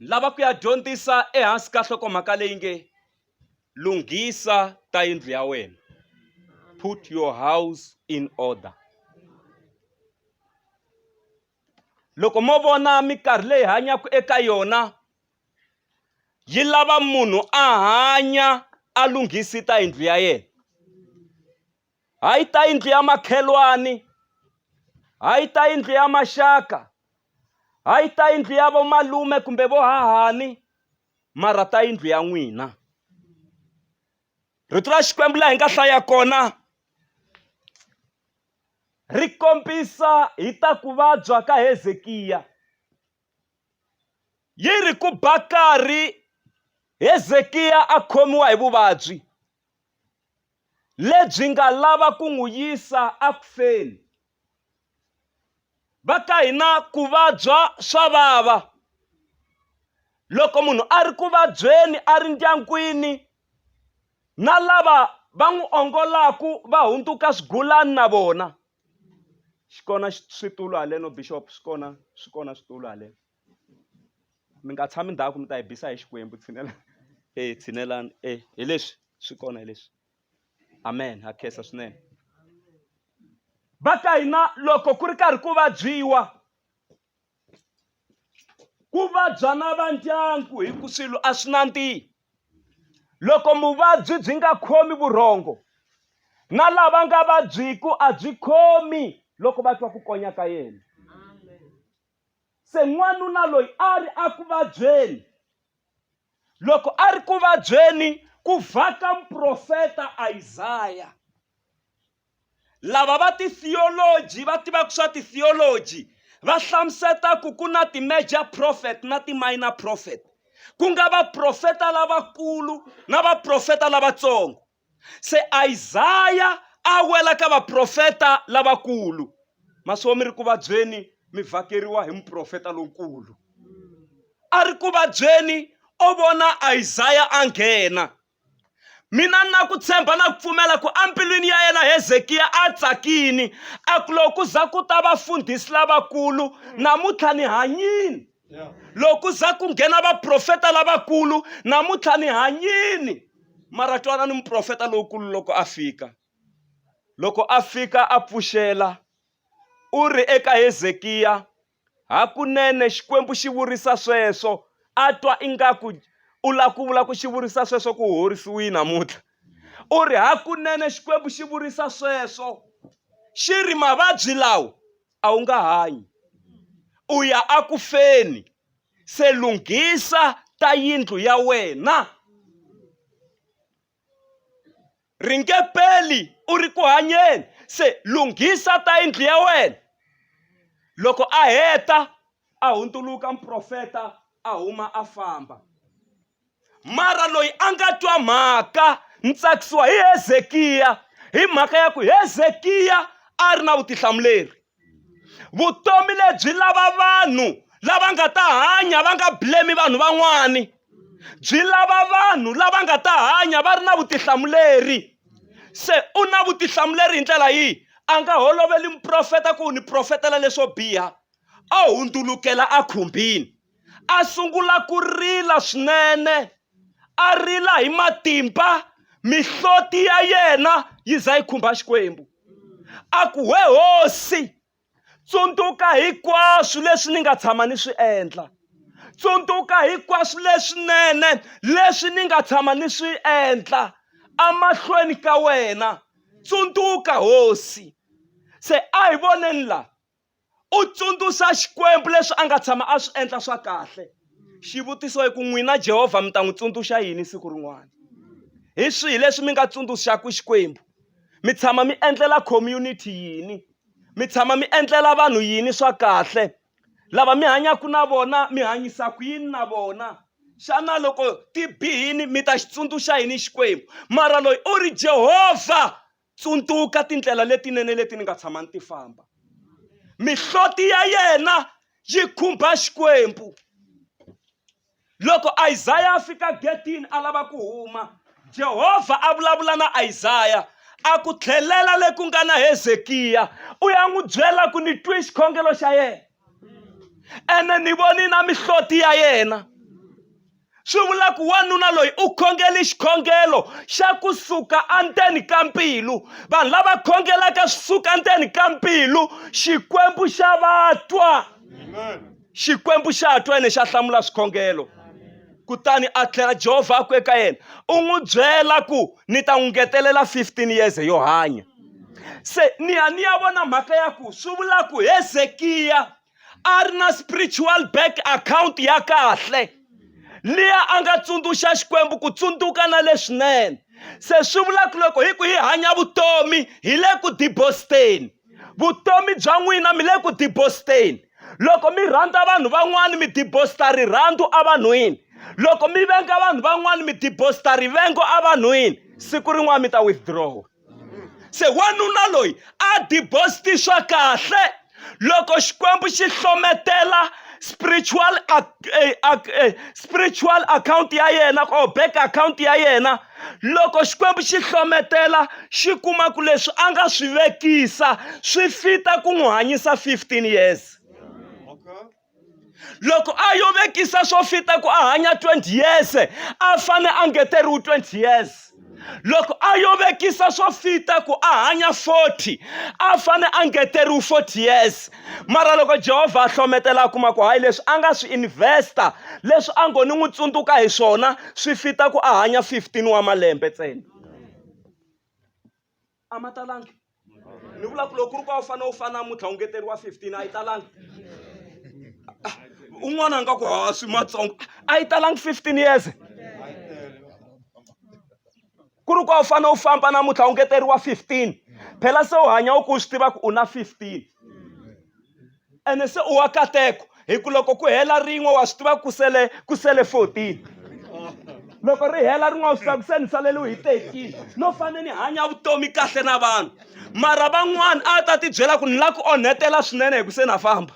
lava ku ya dyondzisa ehansi ka hlokomhaka leyi nge lunghisa ta yindlu ya wena put your house in order loko mo vona mikarhi leyi hanyaka eka yona yi lava munhu a hanya a lunghisi ta yindlu ya yena a yi ta yindlu ya makhelwani a yi ta yindlu ya maxaka a yi ta yindlu ya vomalume kumbe vohahani mara ta yindlu ya n'wina rito ra xikwembu laha hi nga hlaya kona ri kombisa hi ta ku vabya ka hezekiya yi ri ku bakari hezekiya a khomiwa hi vuvabyi lebyi nga lava ku n'wi yisa eku feni. Va ka hina ku vabya swa vava. Loko munhu a ri ku vabyeni a ri ndyangwini, na lava va n'wi ongolaku va hundzuka swigulani na vona. Xi kona xitulu haleno Bixopo, swi kona swi kona switulu haleno. mi nga tshami ndhawu ku mi ta hi bisa hi xikwembu tshinela e tshinelani e hi leswi swi kona hi leswi amen ha khensa swinene va ka hina loko ku ri karhi ku vabyiwa ku vabya na va ndyangu hi ku swilo a swi nandzihi loko muvabyi byi nga khomi vurhongo na lava nga vabyiku a byi khomi loko va twa ku konya ka yena Se n'wanuna loyi a ri eku vabyeni. Loko a ri ku vabyeni ku vhaka muprofeta Isaya. Lava va ti-theology va tivaka swa ti-theology va hlamuseta ku ku na ti-major prophet na ti-minor prophet ku nga vaprofeta lavakulu na vaprofeta lavatsongo. se isaya a wela ka vaprofeta lavakulu maswo mi ri ku vabyeni mi vhakeriwa hi muprofeta lonkulu a ri ku vabyeni o vona isaya a nghena mina na ku tshemba na ku pfumela ku embilwini ya yena hezekiya a tsakini a ku loko ku za ku ta vafundhisi lavakulu namuntlha ni hanyini loko za ku nghena vaprofeta lavakulu namuntlha ni hanyini mara twana ni muprofeta lowukulu loko a fika loko a fika a pfuxela u ri eka hezekiya hakunene xikwembu xi vurisa sweswo a twa ingaku u lava ku vula ku xi vurisa sweswo ku horisiwile namuntlha u ri hakunene xikwembu xi vurisa sweswo xi ri mavabyi lawa a wu nga hanyi u ya aku feni se lunghisa ta yindlu ya wena ri nge peli u ri ku hanyeni se lunghisa ta yindlu ya wena loko a heta a hundzuluka muprofeta a huma a famba mara loyi a nga twa mhaka ni tsakisiwa hi hezekiya hi mhaka ya ku hezekiya a ri na vutihlamuleri vutomi lebyi lava vanhu lava nga ta hanya va nga blame vanhu van'wani byi lava vanhu lava nga ta hanya va ri na vutihlamuleri se u na vutihlamuleri hi ndlela yihi a nga holoveli muprofeta ku ni profetela leswo biha a hundzukela a khumbini. a sungula ku rila swinene a rila hi matimba mihloti ya yena yi za yi khumba xikwembu a ku we hosi tsundzuka hinkwaswo leswi ni nga tshama ni swi endla tsundzuka hinkwaswo leswinene leswi ni nga tshama ni swi endla emahlweni ka wena tsundzuka hosi se a hi voneni la u tsundzuxa xikwembu leswi a nga tshama a swi endla swa kahle xivutiso i ku n'wina jehovha mi ta n'wi tsundzuxa yini siku rin'wana hi swihi leswi mi nga tsundzuxaka xikwembu mi tshama mi endlela community yini mi tshama mi endlela vanhu yini swa kahle lava mi hanyaka na vona mi hanyisa ku yini na vona xana loko ti bihini mi ta xi tsundzuxa yini xikwembu mara loyi u ri jehovha tsundzuka tindlela letinene leti ni nga tshama ni ti famba mihloti ya yena yi khumba xikwembu loko isaya a fika getini a lava ku huma jehovha a vulavula na isaya a ku tlhelela le ku nga na hezekiya u ya n'wi byela ku ni twi xikhongelo xa yena ene ni voni na mihloti ya yena swi vula ku wanuna loyi u khongeli xikhongelo xa ku suka endzeni ka mbilu vanhu lava khongelaka swi suka endzeni ka mbilu xikwembu xa vatwa xikwembu xa twa ene xa hlamula swikhongelo kutani a tlhela jehovha a ku eka yena u n'wi byela ku ni ta n'wi ngetelela 15 years yo hanya se nihaniya vona mhaka ya ku swi vula ku hezekiya a ri na spiritual bank account ya kahle liya a nga tsundzuxa xikwembu ku tsundzuka na leswinene se swi vula ku loko hi ku hi hanya vutomi hi le ku dibositeni vutomi bya n'wina mi le ku dibositeni loko mi rhandza vanhu van'wani mi dibosita rirhandzu evanhwini loko mi venga vanhu van'wani mi dibosita rivengo evanhwini siku rin'wana mi ta withdraw se wanuna loyi a dibosti swa kahle loko xikwembu xi hlometela spiritual eh, eh, spiritual account ya yena or bank account ya yena loko xikwembu xi hlometela xi kuma ku leswi a nga swi vekisa swi fita ku n'wi hanyisa 15 years loko a yo vekisa swo fita ku a hanya 20 years a fane a ngeteriwi 20 years loko a yo vekisa swo fita ku a hanya 40 a fane a ngeteriwi 40 years mara loko jehovha a hlometela a kuma ku hayi leswi a nga swi investa leswi a ngo ni n'wi tsundzuka hi swona swi fita ku a hanya 15 wa malembe ntsena a ma talangi ni vula ku loko ku ri ku a wu fanele u fana namuntlha u ngeteriwa 15 a yi talangi ah, un'wana a nga ku ha swi matsongo a yi talangi 15 years ku ri ku a wu fanele u famba namuntlha u ngeteriwa 15 phela se u hanya u ku u swi tiva ku u na 15 ene se u wa kateko hi ku loko ku hela rin'we wa swi tiva ku sele ku sele 14 loko ri hela rin'we wa swi tiva ku se ni saleliwe hi 13 no fanele ni hanya vutomi kahle na vanhu mara van'wana a ta tibyela ku ni la ku onhetela swinene hi ku se na famba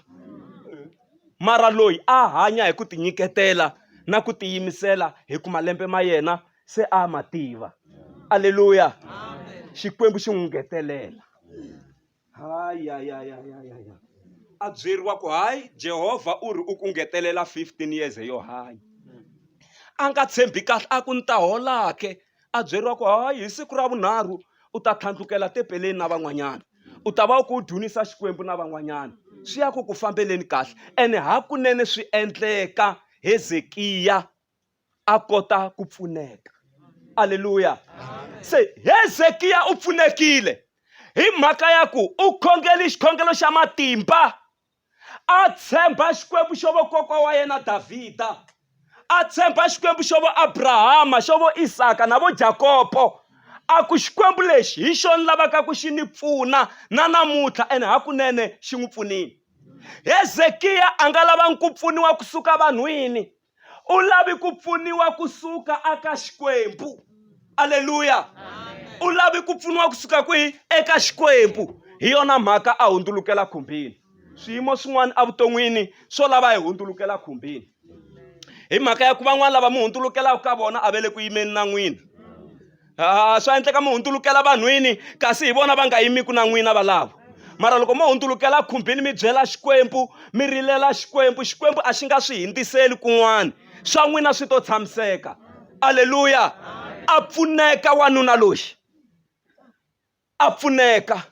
mara loyi a hanya hi ku tinyiketela na ku tiyimisela hi ku malembe ma yena se a ma tiva aleluya xikwembu xi n'wi ngetelela hayi ya ya ya ya ya ya a byeriwa ku hayi jehovha u ri u ku ngetelela 15 years yo hanya a nga tshembi kahle a ku ni ta holake a byeriwa ku hayi hi siku ra vunharhu u ta tlhandlukela tepeleni na van'wanyana u ta va u ku u dunisa xikwembu na van'wanyana swi ya ku ku fambeleni kahle ene hakunene swi endleka hezekiya a kota ku pfuneka aleluya se hezekiya u pfunekile hi mhaka ya ku u khongeli xikhongelo xa matimba a tshemba xikwembu xo vokokwa wa yena davhida a tshemba xikwembu xo vo abrahama xo vo isaka na vo jakopo a ku xikwembu lexi hi xo ni lavaka ku xi ni pfuna na namuntlha ene hakunene xi n'wi pfunile hezekiya a nga lavangi ku pfuniwa kusuka vanhwini u lavi ku pfuniwa kusuka aka xikwembu aleluya u lavi ku pfuniwa kusuka kwihi eka xikwembu hi yona mhaka a hundzulukela khumbini swiyimo swin'wana evuton'wini swo lava hi hundzulukela khumbini hi mhaka ya ku van'wana lava mi hundzulukelaka ka vona a va le ku yimeni na n'wina a swa endleka mi hundzulukela vanhwini kasi hi vona va nga yimiku na n'wina valavo mara loko mo hundzulukela khumbini mi byela xikwembu mi rilela xikwembu xikwembu a xi nga swi hindziseli kun'wana swa n'wina swi to tshamiseka aleluya a pfuneka wanuna loyi a pfuneka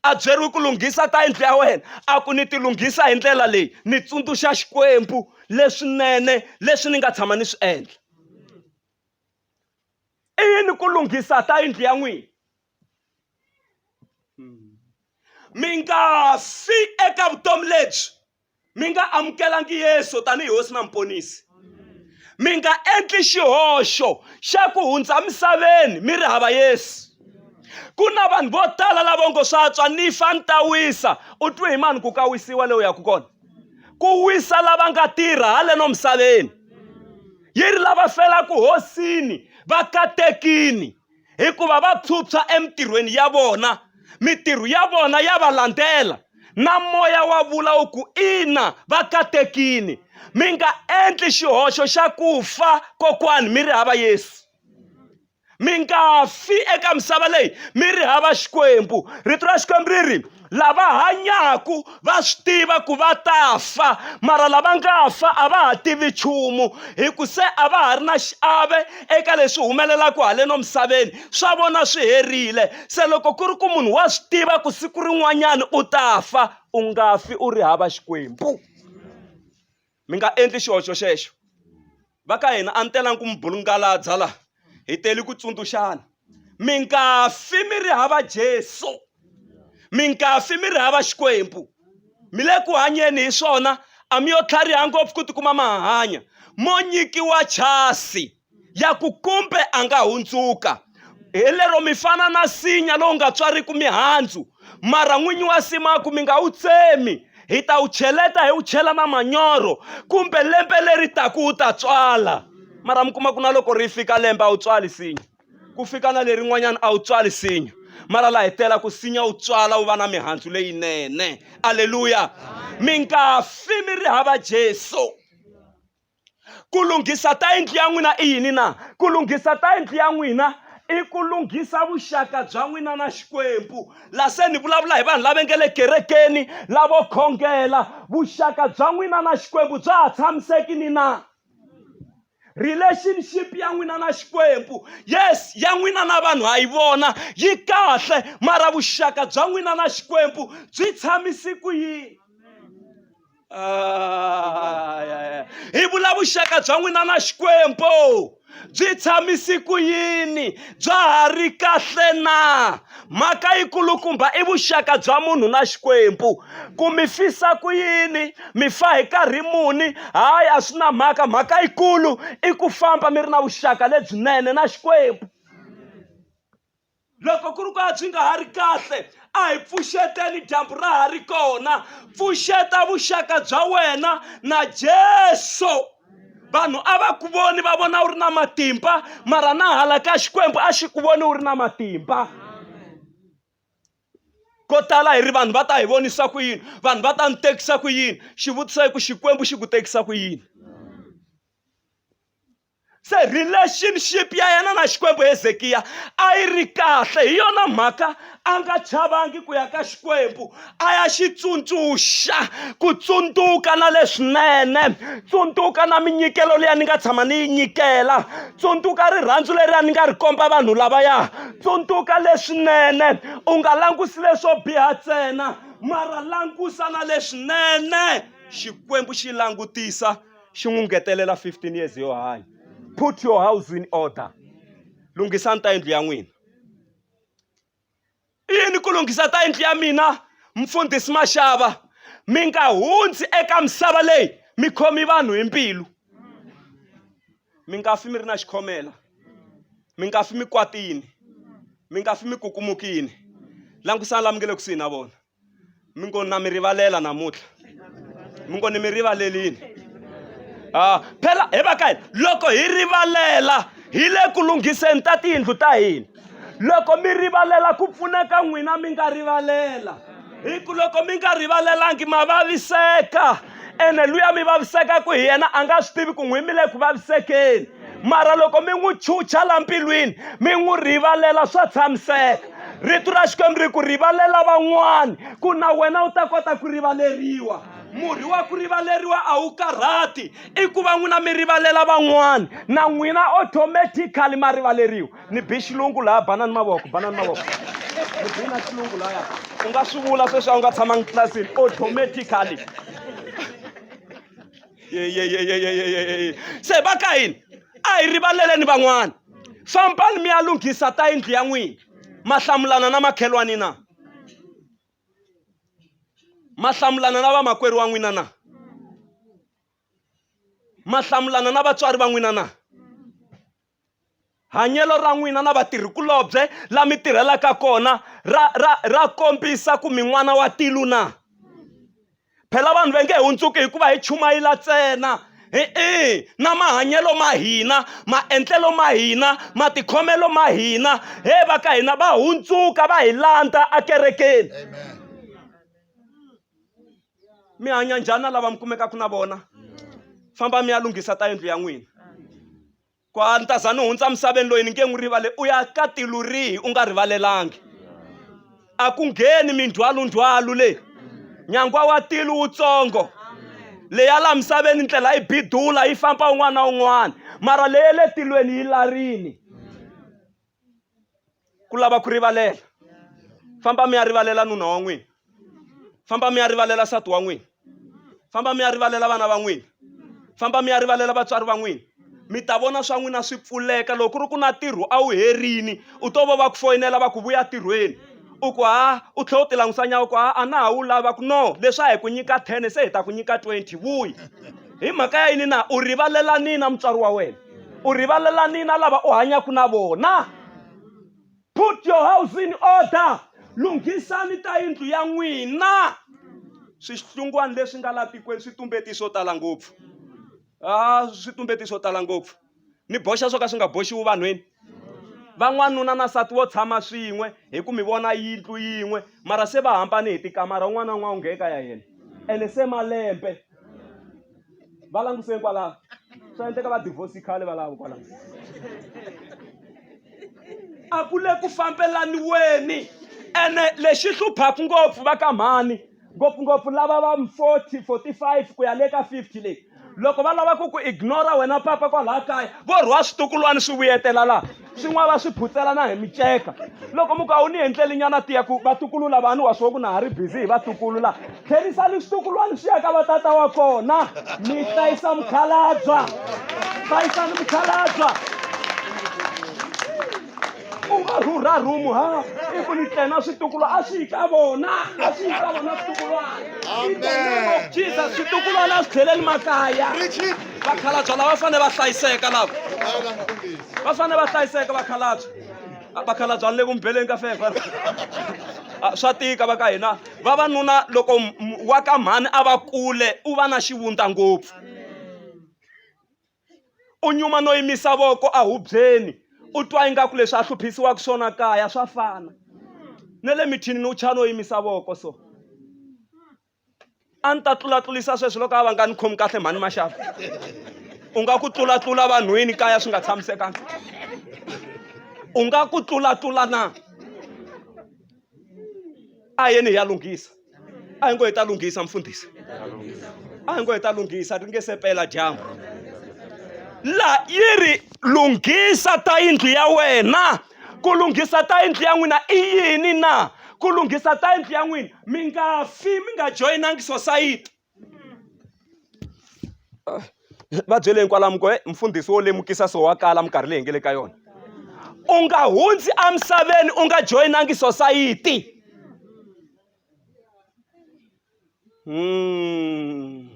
a byeriwi ku lunghisa ta yindlu ya wena a ku ni ti lunghisa hi ndlela leyi ni tsundzuxa xikwembu leswinene leswi ni nga tshama ni swi endla i yini ku lunghisa ta yindlu ya n'wina mi nga fi eka vutomi lebyi mi nga amukelangi yesu tanihi hosi na muponisi mi nga endli xihoxo xa ku hundza misaveni mi ri hava yesu ku na vanhu vo tala lavo ngo swa tswa ni fa ni ta wisa u twe hi mani ku ka wisiwa leyi u yaka kona ku wisa lava nga tirha haleno misaveni yi ri lava felaka hosini va katekini hikuva va phyuphya emitirhweni ya vona mitirho ya vona ya va landzela na moya wa vula wu ku ina va katekini mi nga endli xihoxo xa ku fa kokwani mi ri hava yesu mi nga fi eka misava leyi mi ri hava xikwembu rito ra xikwembu ri ri lava hanyaku va swi tiva ku va ta fa mara lava nga fa a va ha tivi nchumu hi ku se a va ha ri na xiave eka leswi humelelaka haleno misaveni swa vona swi herile se loko ku ri ku munhu wa swi tiva ku siku rin'wanyana u ta fa u nga fi u ri hava xikwembu mi nga endli xihoxo xexo va ka hina a ni telangi ku mi bulungaladza la hi teli ku tsundzuxana mi nga fi mi ri hava jesu mi nga fi mi ri hava xikwembu mi le ku hanyeni hi swona a mi yo tlhariha ngopfu ku tikuma ma hanya mo nyikiwa chasi ya ku kumbe a nga hundzuka hi lero mi fana na sinya lowu nga tswariki mihandzu mara n'winyi wa simaku mi nga wu tsemi hi ta wu cheleta hi wu chela na manyoro kumbe lembe leri taku wu ta tswala mara mi kuma ku na loko ri fika lembe a wu tswali sinya ku fika na lerin'wanyana a wu tswali sinya mara la hetela ku sinya wu tswala wu va na mihandzu leyinene aleluya mi nga fi mi ri hava jesu ku lunghisa ta yindlu ya n'wina i yini na ku lunghisa ta yindlu ya n'wina i ku lunghisa vuxaka bya n'wina na xikwembu la se ni vulavula hi vanhu lava nge le kerekeni lavo khongela vuxaka bya n'wina na xikwembu bya ha tshamiseki ni na relationship ya n'wina na xikwembu yes ya n'wina na vanhu ha yi vona yi kahle mara vuxaka bya n'wina na xikwembu byi tshamisi ku yini Ah, hi vula vuxaka bya n'wina na xikwembu byi tshamisi ku yini bya ha ri kahle na mhaka yikulukumba i vuxaka bya munhu na xikwembu ku mi fisa ku yini mi fa hi karhi muni hayi a swi na mhaka mhaka yikulu i ku famba mi ri na vuxaka lebyinene na xikwembu loko ku ri ku a byi nga ha ri kahle a hi pfuxeteni dyambu ra ha ri kona pfuxeta vuxaka bya wena na jesu vanhu a va ku voni va vona u ri na matimba mara na hala ka xikwembu a xi ku voni u ri na matimba ko tala hi ri vanhu va ta hi vonisa ku yini vanhu va ta ni tekisa ku yini xivutiso i ku xikwembu xi ku tekisa ku yini se relationship ya yena na xikwembu hezekiya a yi ri kahle hi yona mhaka a nga chavangi ku ya ka xikwembu a ya xi tsundzuxa ku tsundzuka na leswinene tsundzuka na minyikelo leyi a ni nga tshama ni yi nyikela tsundzuka rirhandzu leri a ni nga ri komba vanhu lavaya tsundzuka leswinene u nga langusi leswo biha ntsena mara langusa na leswinene xikwembu xi langutisa xi n'wi ngetelela 15 years yo hanya put your house in order lunghisa ta yindlu ya n'wina i yini ku lunghisa ta yindlu ya mina mfundhisi maxava mi nga hundzi eka misava leyi mi khomi vanhu hi mbilu mi nga fi mi ri na xikhomela mi nga fi mi kwatini mi nga fi mi kukumukini langutisani lami nge le kusuhi na vona mi ngo na mi rivalela namuntlha mi ngo ni mi rivalelini a phela he va ka hina loko hi rivalela hi le ku lunghiseni ta tiyindlu ta hina loko mi rivalela ku pfuneka n'wina mi nga rivalela hi ku loko mi nga rivalelangi ma vaviseka ene luya mi vavisekaku hi yena a nga swi tivi ku n'wi mi le ku vavisekeni mara loko mi n'wi chucha la mbilwini mi n'wi rivalela swa tshamiseka rito ra xikwembu ri ku rivalela van'wani ku na wena u ta kota ku rivaleriwa murhi wa ku rivaleriwa a wu karhati i ku va n'wina mi rivalela van'wani na n'wina automatically ma rivaleriwa ni bi xilungu laha banani mavoko banani mavoko ni bi na xilungu laya u nga swi vula sweswi a wu nga tshamangi tlilasini automatically yeyeyeyeyeyeye se va ka yini a hi rivaleleni van'wana fambani mi ya lunghisa ta yindlu ya n'wina mahlamulana na makhelwani na mahlamulana na vamakwerhu wa n'wina na mahlamulana na vatswari va n'wina na Hanyelo ra n'wina na vatirhikulobye la mi tirhelaka kona ra, ra, ra kombisa ku mi n'wana wa tilu na? Phela vanhu va nge hundzuki hikuva hi chumayela ntsena e-e na mahanyelo ma hina maendlelo ma hina matikhomelo ma hina he va ka hina va hundzuka va hi landza ekerekeni mi hanya njhani na lava mi kumekaka na vona famba mi ya lunghisa ta yindlu ya n'wina ku a ni ta za ni hundza misaveni loyi ni nge n'wi rivale u ya ka tilu rihi u nga rivalelangi a ku ngheni mindzhwalundzhwalu leyi nyangwa wa tilu wutsongo leya laha misaveni ndlela yi bidula yi famba un'wana na un'wana mara leye le tilweni yi larini ku lava ku rivalela famba mi ya rivalela nuna wa n'wina famba mi ya rivalela sati wa n'wina famba mi ya rivalela vana va n'wina famba mi ya rivalela vatswari va n'wina mi ta vona swa n'wina swi pfuleka loko ku ri ku na ntirho a wu herini u to va va ku foyinela va ku vuya ntirhweni u ku ha u tlhela u ti langutisa nyawo ku ha a na ha wu lava ku no leswi a hi ku nyika ten se hi ta ku nyika twenty vuyi hi mhaka ya yini na u rivalelani na mutswari wa wena u rivalelani na lava u hanyaka na vona put your house in order lunghisani ta yindlu ya n'wina swihlungwana leswi nga laha tikweni swi tumbeti swo tala ngopfu a ah, swi tumbeti swo tala ngopfu ni boxa swo ka swi nga boxiwi vanhwini van'wanuna na sati wo tshama swin'we hi ku mi vona yindlu yin'we mara se va hambane hi tikamara un'wana na un'wana u ngheka ya yena ene se malembe va languseni kwalaho swa endleka va divorce khale valavo kwalaho a ku le ku fambelaniweni ene lexi hluphaku ngopfu va ka mhani ngopfungopfu lava va 40 45 ku ya le ka 50 leyi loko va lava ku ku ignora wena papa kwalaha kaya vo rhwa switukulwana swi vuyetela laha swin'wana va swi phutsela na hi miceka loko muku a wu ni endleli nyana tiya ku vatukulu lavani wa swo ku na ha ri busy hi vatukulu laha tlherisani switukulwana swi ya ka vatata wa kona mi hlayisa mukhalabya hlayisani mukhalabya u va rhurha rhumu ha i ku ni tlena switukulwa a swi yi ka vona a swi yi ka vona switukulwana in the name of jesus switukulwana a swi tlheleli makaya vakhalabya lava fanele va hlayiseka lava va fanele va hlayiseka vakhalabya vakhalabya ni le ku mi beleni ka fefa Ah, swa tika va ka hina vavanuna loko m- wa ka mhani a va kule u va na xivundza ngopfu u nyuma no yimisa voko ehubyeni u twa ingaku leswi a hluphisiwaka swona kaya swa fana na le mithinini u chaya no yimisa voko so a ni ta tlulatlulisa sweswi loko a va nga ni khomi kahle mhani maxaku u nga ku tlulatlula vanhwini kaya swi nga tshamisekanga u nga ku tlulatlula na a yeni hi ya lunghisa a hi ngo hi ta lunghisa mfundhisi a hi ngo hi ta lunghisa ri nge se pela dyambu laha yi ri lunghisa ta yindlu ya wena ku lunghisa ta yindlu ya n'wina i yini na ku lunghisa ta yindlu ya n'wina mi nga fi mi nga joyinangi sosayiti va byele hinkwalamu ko mfundhisi wo lemukisa so wa kala minkarhi leyi hi nga le ka yona u nga hundzi emisaveni u nga joyinangi sosayiti hmm.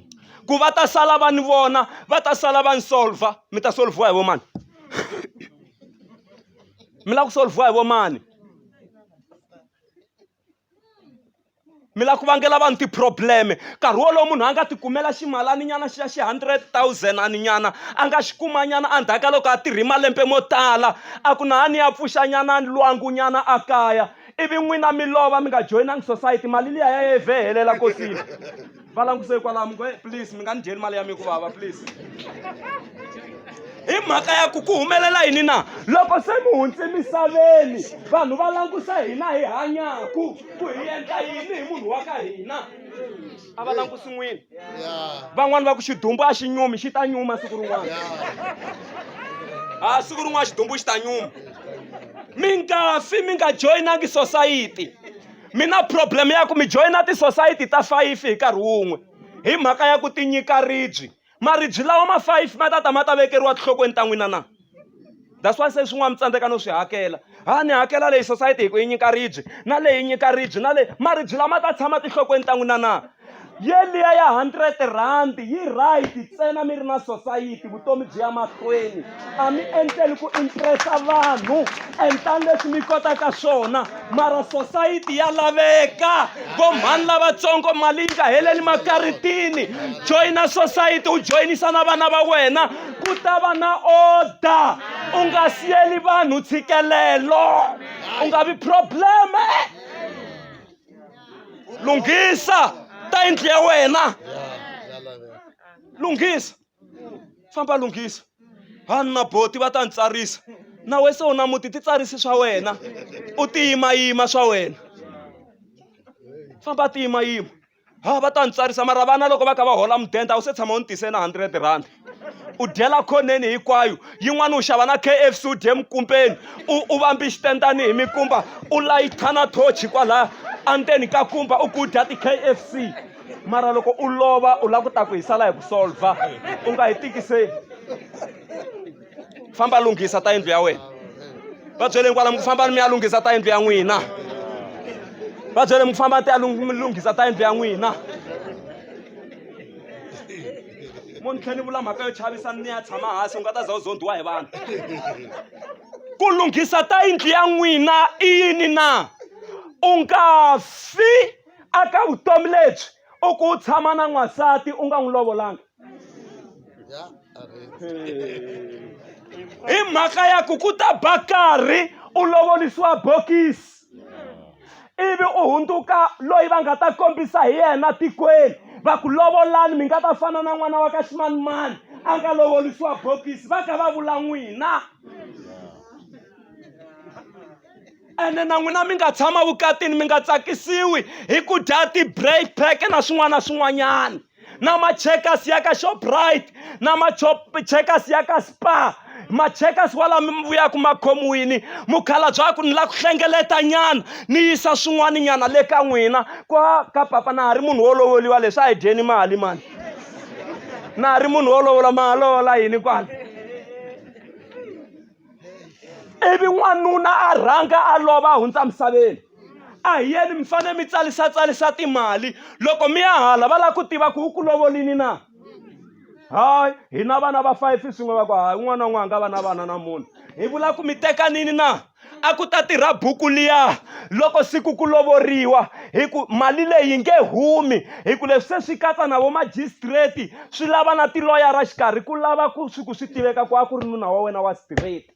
ku va ta sala va ni vona va ta sala va ni solva mi ta solviwa hi vo mani mi lava ku solviwa hi vo mani mi lava ku vangela vanhu ti-problem nkarhi wolowo munhu a nga ti kumela ximalani nyana xa xi hundred thousand ani nyana a nga xi kuma nyana endzhaku ka loko a tirhi malembe mo tala a ku na a ni ya pfuxa nyana lwangu nyana a kaya ivi n'wina mi lova mi nga joyinangi society mali liya ya ye vhe helela kosini va languse kwalamo ku please mi nga ni dyeli mali ya mi ku vava please hi mhaka ya ku ku humelela yini na loko se mi hundze misaveni vanhu va langusa hina hi hanyaku ku hi endla yini hi munhu wa ka hina a va langusi n'wini van'wani va ku xidumbu a xi nyumi xi ta nyuma siku rin'wana a siku rin'wana xidumbu xi ta nyuma mi nga fi mi nga joyinangi sosayiti mi na problem ya ku mi joyina tisosayiti ta fayifi hi nkarhi wun'we hi mhaka ya ku tinyika ribyi maribyi lawa ma fayifi ma ta ta ma ta vekeriwa tinhlokweni ta n'wina na that's why se swin'wana mi tsandzeka no swi hakela ha ni hakela leyi sosayiti hi ku yi nyika ribyi na leyi nyika ribyi na leyi maribyi lama ta tshama tinhlokweni ta n'wina na yeliya ya hundred rhandi yi right ntsena mi ri na sosayiti vutomi byi ya mahlweni a mi endleli ku impressa vanhu endlani leswi mi kotaka swona mara sosayiti ya laveka vomhani lavatsongo mali yi nga heleli makaritini joyina sosayiti u joyinisa na vana va wena ku ta va na order u nga siyeli vanhu tshikelelo u nga vi probleme lunghisa ta yindlu ya wena lunghisa famba lunghisa vanhu na boti va ta ni tsarisa na we se u na muti titsarisi swa wena u tiyimayima swa wena famba tiyimayima ha va ta ni tsarisa mara vana loko va kha va hola mudende a wu se tshama u ni tise na hundred rand u dyela khoneni hinkwayo yin'wana u xava na kfc u dye mikumpeni u u vambi xitendani hi mikumba u layitha na thochi kwalaya endzeni ka kumba u ku dya ti-kfc mara loko u lova u lava ku ta ku hi sala hi ku solva u nga hi tikiseli famba lunghisa ta yindlu ya wena va byele kwala mi ku fambani mi ya lunghisa ta yindlu ya n'wina va byele mi ku fambani ti ya lunghisa ta yindlu ya n'wina mo ni tlhe ni vula mhaka yo chavisa ni ya tshama hansi u nga ta za u zondiwa hi vanhu ku lunghisa ta yindlu ya n'wina i yini na u nga fi aka vutomi lebyi u ku u tshama na n'wansati u nga n'wi lovolanga hi mhaka ya ku ku ta ba karhi u lovolisiwa bokisi ivi u hundzuka loyi va nga ta kombisa hi yena tikweni va ku lovolani mi nga ta fana na n'wana wa ka ximanimani a nga lovolisiwa bokisi va kha va vula n'wina ene na n'wina mi nga tshama vukatini mi nga tsakisiwi hi ku dya ti-break pack na swin'wana na swin'wanyana na macheckers ya ka shoprite na macheckers ya ka spa macheckers wala mi mi vuyaku ma khomiwini mukhala bya ku ni la ku hlengeleta nyana ni yisa swin'wana nyana le ka n'wina kwa ka papa na ha ri munhu wo lovoliwa leswi a hi dyeni mali mani na ha ri munhu wo lovola ma lovola yini kwala ivi n'wanuna a rhanga a lova a hundza misaveni a hi yeni mi fanele mi tsalisatsarisa timali loko mi ya hala va lava ku tiva ku u ku lovolini na hayi hi na vana va five swin'we va ku hayi un'wana na un'wana nga va na vana na munhu hi vula ku mi tekanini na a ku ta tirha buku liya loko siku ku lovoriwa hi ku mali leyi nge humi hi ku leswi se swi katsa na vomajistreti swi lava na tiloyara xikarhi ku lava ku swi ku swi tiveka ku a ku ri nuna wa wena wa straight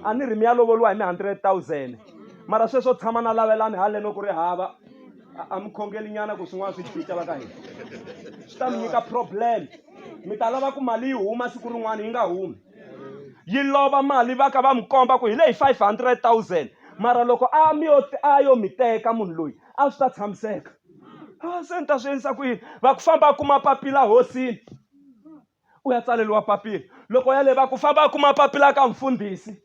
a ni ri mi ya lovoliwa hi mi hundred thousand mara sweswo tshama na lavelani haleno ku ri hava a mi khongeli nyana ku swin'wana swi cinca va ka hina swi ta mi nyika problem mi ta lava ku mali yi huma siku rin'wana yi nga humi yi lova mali va ka va mi komba ku hi leyi five hundred thousand mara loko a mi yo a yo mi teka munhu loyi a swi ta tshamiseka a se ni ta swi endlisa ku yini va ku famba a kuma papila hosini u ya tsaleriwa papila loko ya leva ku famba a kuma papila ka mfundhisi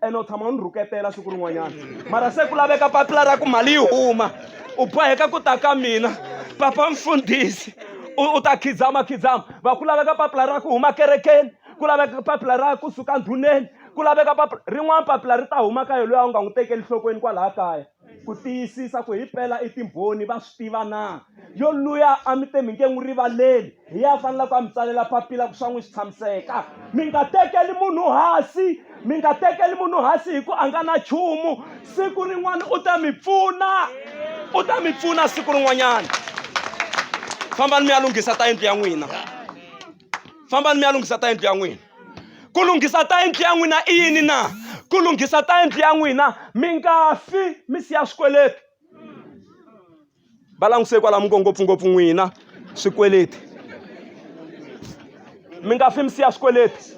ene u tshama u ni rhuketela siku rin'wanyana mara se ku laveka papila ra ku mali yi huma u boheka ku ta ka mina papa mfundhisi u ta khidzama khidzama va ku laveka papila ra ku huma kerekeni ku laveka papila ra kusuka ndhuneni ku laveka papila rin'wana papila ri ta huma ka yena loyi a wu nga n'wi tekeli nhlokweni kwalaha kaya ku tiyisisa ku himpela i timbhoni va swi tiva na yo luya a mi te mi nge n'wi rivaleli hi ya faneleke a mi tsalela papila ku swa n'wi swi tshamiseka mi nga tekeli munhu hasi mi nga tekeli munhu hasi hi ku a nga na chumu siku rin'wana u ta mi pfuna u ta mi pfuna siku rin'wanyana fambani mi ya lunghisa ta yindlu ya n'wina fambani mi ya lunghisa ta yindlu ya n'wina ku lunghisa ta yindlu ya n'wina i yini na ku lunghisa ta yindlu ya n'wina mi nga fi mi siya swikweleti va languse kwala mi ngo ngopfungopfu n'wina swikweleti mi nga fi mi siya swikweleti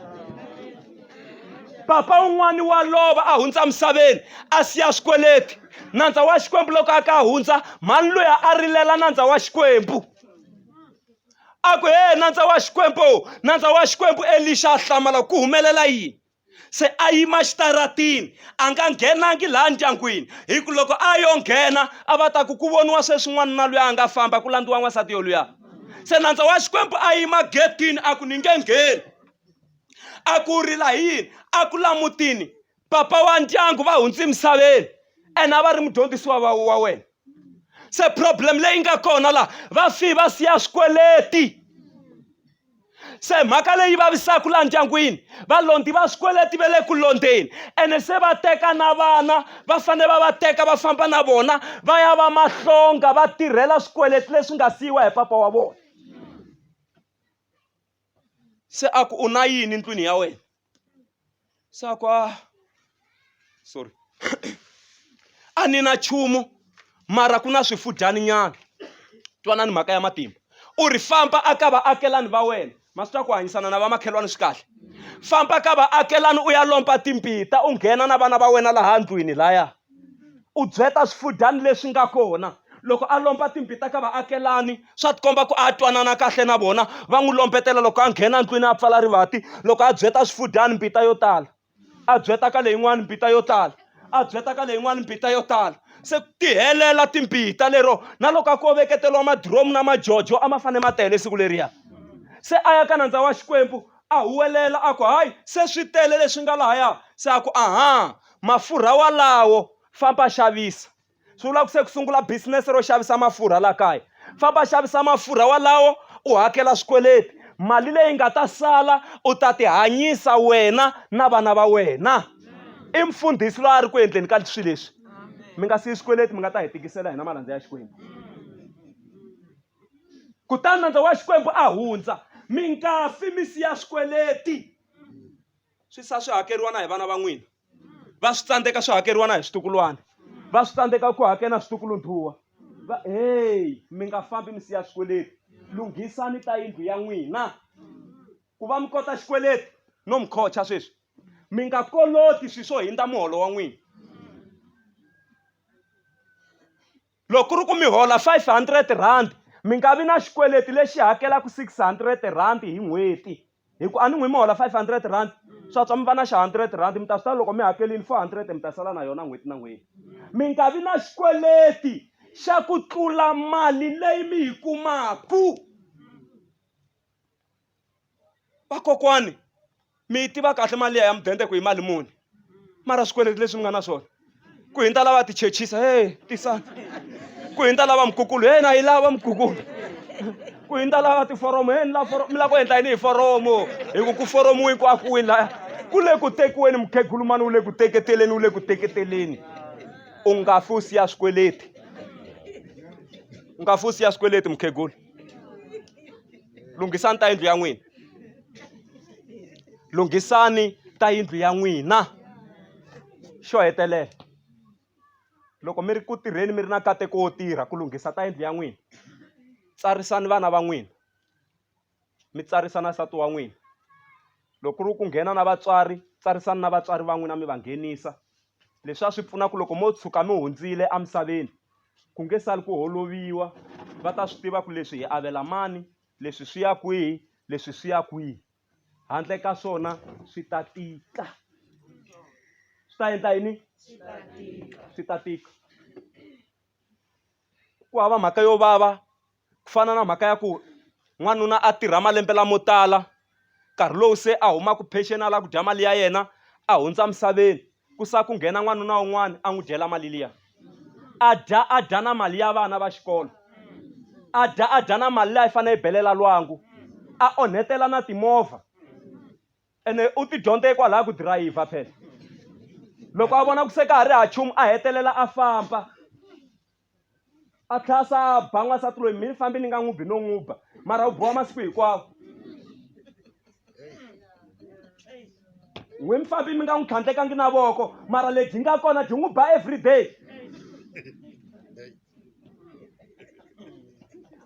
papa un'wana wa lova a hundza misaveni a siya swikweleti nandza wa xikwembu loko a ka hundza mhani loyi a rilela nandza wa xikwembu a ku he nandza wa xikwembu nandza wa xikwembu elixa a hlamala ku humelela yini se a yima xitaratini a nga nghenangi laha ndyangwini hi ku loko a yo nghena a va ta ku ku voniwa sweswin'wana na luya a nga famba ku landziwa n'wansati yoluya se nandza wa xikwembu a yima getini a ku ni nge ngheni a ku rila hi yini a ku lamutini papa wa ndyangu va hundzi emisaveni and a va ri mudyondzisiwa va wa wena se problem leyi nga kona laha va fi va siya swikweleti se mhaka leyi vavisaka laha ndyangwini valondi va swikweleti ve le ku londzeni ene se va teka na vana va fanele va va teka va famba na vona va ya va mahlonga va tirhela swikweleti leswi nga siyiwa hi papa wa vona se a ku u na yini ndlwini ya wena sakwa sorry a ni na chumu mara ku na swifudyani nyana twanani mhaka ya matimba u ri famba a ka vaakelani va wena ma swi ta ku hanyisana na vamakhelwani swi kahle famba ka vaakelani u ya lomba timbita u nghena na vana va wena laha ndlwini laya u byeta swifudyani leswi nga kona loko a lomba timbhi ta ka vaakelani swa tikomba ku a twanana kahle na vona va n'wi lombetela loko a nghena ndlwini a pfala rivati loko a byeta swifudyani mbita yo tala a byeta ka leyin'wani mbita yo tala a byeta ka leyin'wani mbita yo tala se ku tihelela timbita lero na loko a ko veketeriwa madiromu na majojo a ma fane ma tele siku leriya se a ya ka nandza wa xikwembu a huwelela a ku hayi se swi tele leswi nga lahaya se a ku aha Mafurha walawo famba xavisa swi vula ku se ku sungula business ro xavisa mafurha la kaya famba xavisa mafurha walawo u hakela swikweleti mali leyi nga ta sala u ta ti hanyisa wena na vana va wena i mfundhisi loyi a ri ku endleni ka swilo leswi mi nga siyi swikweleti mi nga ta hi tikisela hina malandza ya xikwembu kutani nandza wa xikwembu a hundza mi nga fi mi siya swikweleti swi sa swi hakeriwa na hi vana va n'wina va swi tsandzeka swi hakeriwa na hi switukulwana va swi tsandzeka ku hakela na switukulundhuwa va heyi mi nga fambi mi siya xikweleti lunghisani ta yindlu ya n'wina ku va mi kota xikweleti no mi khocha sweswi mi nga koloti swilo swo hindza muholo wa n'wina loko ku ri ku mi hola five hundred rand mi nga vi na xikweleti lexi hakelaka six hundred rand hi n'hweti hi ku a ni n'wi mi hola five hundred rand swa tswa mi va na xa hundred rand mi ta swi tiva loko mi hakelini four hundred mi ta sala na yona n'hweti na n'hweti mi nga vi na xikweleti xa ku tlula mali leyi mi yi kumaku vakokwani mi yi tiva kahle mali liya ya mudende ku yi mali muni mara swikweleti leswi mi nga na swona ku hindza lava ti chechisa he tisana ku hindza lava mukukulu he na yi lava mukukulu ku hindza lava tiforomo he ni la foromo mi lava ku endla yini hi foromo hi ku ku foromiwe ku akiwini laya ku le ku tekiweni mukhegulu mani wu le ku teketeleni wu le ku teketeleni u nga fi u siya swikweleti u nga fi u siya swikweleti mukhegulu lunghisani ta yindlu ya n'wina lunghisani ta yindlu ya n'wina xo hetelela loko mi ri ku tirheni mi ri na nkateko wo tirha ku lunghisa ta yindlu ya n'wina tsarisani vana va n'wina mi tsarisa na nsati wa n'wina loko ku ri ku nghena na vatswari tsarisani na vatswari va n'wina mi va nghenisa Leswi a swi pfuna ku loko mo tshuka mi hundzile emisaveni, ku nge sali ku holoviwa, va ta swi tiva ku leswi hi avela mani, leswi swi ya kwihi, leswi swi ya kwihi. Handle ka swona swi ta tika. Swi ta endla yini? Swi ta tika. Swi ta tika. Ku hava mhaka yo vava ku fana na mhaka ya ku n'wanuna a tirha malembe lamo tala nkarhi lowu se a humaka peceni a lava ku dya mali ya yena a hundza emisaveni ku sala ku nghena n'wanuna un'wana a n'wi dyela mali liya a dya a dya na mali ya vana va xikolo a dya a dya na mali leyi a yi fanele yi belela lwangu a onhetela na timovha ene u ti dyondze hikwalaho ku dirayivha phela loko a vona ku se ka ha ri ha chumu a hetelela a famba a tlhela a sa ba n'wansati loyi mi ni fambi ni nga n'wi bi no n'wi ba mara u biwa masiku hinkwawo n'wi mi fambi mi nga n'wi tlhandlekangi na voko mara lebyi nga kona byi n'wi ba every day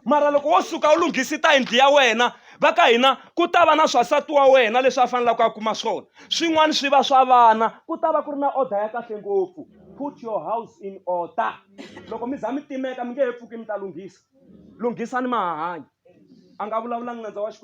mara loko wo suka u lunghisita yindlu ya wena va ka hina ku ta va na swasati wa wena leswi a faneleke a kuma swona swin'wana swi va swa vana ku ta va ku ri na order ya kahle ngopfu put your house in order loko mi za mi timeka mi nge he pfuki mi ta lunghisa lunghisani mahahanyi a nga vulavulanga nandza wa xikwembu.